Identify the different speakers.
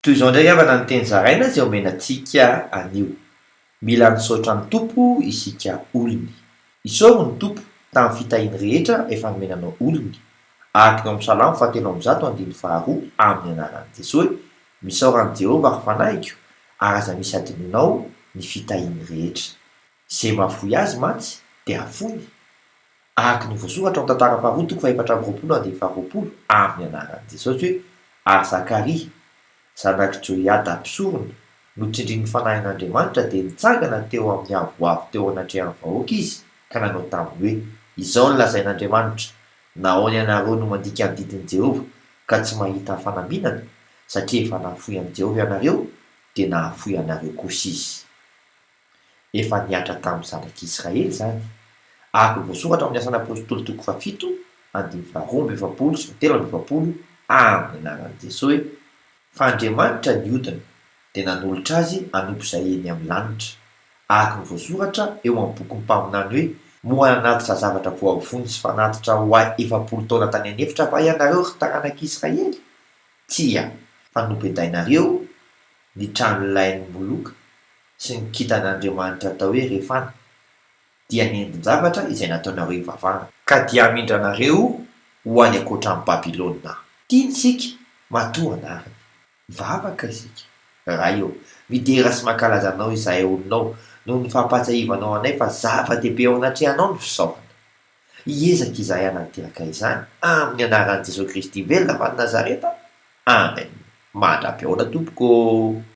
Speaker 1: Toy izao indray havana ny teny zaraina izay omena antsika anio, Mila nisaotra ny Tompo isika olony. Isaoro ny Tompo tamin'ny fitahiany rehetra efa nomena anao olony, araka eo amin'ny Salamo fahatelo amby zato andininy faharoa amin'ny anaran'i Jesoy, Misaora an'i Jehovah ry fanahiko, ary aza misy hadinoina ao ny fitahiany rehetra. Izay mahafoy azy mantsy dia hafoiny, araka ny voasoratra ao amin'ny Tantara faharoa toko fahefatra amby roapolo andinin'ny faharoapolo, amin'ny anaran'i Jesosy hoe, Ary Zakaria, zanak'i Joiada mpisorona, notsindrin'ny Fanahin'Andriamanitra, dia nitsangana teo amin'ny avoavo teo anatrehan'ny vahoaka izy, ka nanao taminy hoe, Izao no lazain'Andriamanitra, Nahoana ianareo no mandika ny didin'i Jehovah, ka tsy mahita fanambinana? Satria efa nahafoy an'i Jehovah ianareo, dia nahafoy anareo kosa izy. Efa nihatra tamin'ny zanak'i Israely izany, araka ny voasoratra ao amin'ny Asan'ny Apôstôly toko fahafito andininy faharoa amby efapolo sy fahatelo amby efapolo amin'ny anaran'i Jesoa hoe, Fa Andriamanitra niodina, dia nanolotra azy hanompo izay eny amin'ny lanitra, araka ny voasoratra eo amin'ny bokin'ny mpaminany hoe, Moa nanatitra zavatra voavonjy sy fanatitra ho ahy efapolo taona tany an'efitra va ianareo, ry taranak'i Israely? Tsia, fa nobedainareo ny tranolay ny moloka. sy ny kintan'Andriamanitra atao hoe Refana, dia ny endin-javatra izay nataonareo hivavahana. Ka dia hamindra anareo ho any ankoatran'i Babylona Aho. Tiany isika, matoa anariny. Mivavaka isika. Ray ô, midera sy mankalaza Anao izahay olonao, noho ny fampahatsiahivanao anay fa zava-dehibe eo anatrehanao ny fisaorana. Hiezaka izahay hanatanteraka izany, amin'ny anaran'i Jesoa Kristy velona avy any Nazareta. Amen. Mandra-pihaona, Tompoko ô!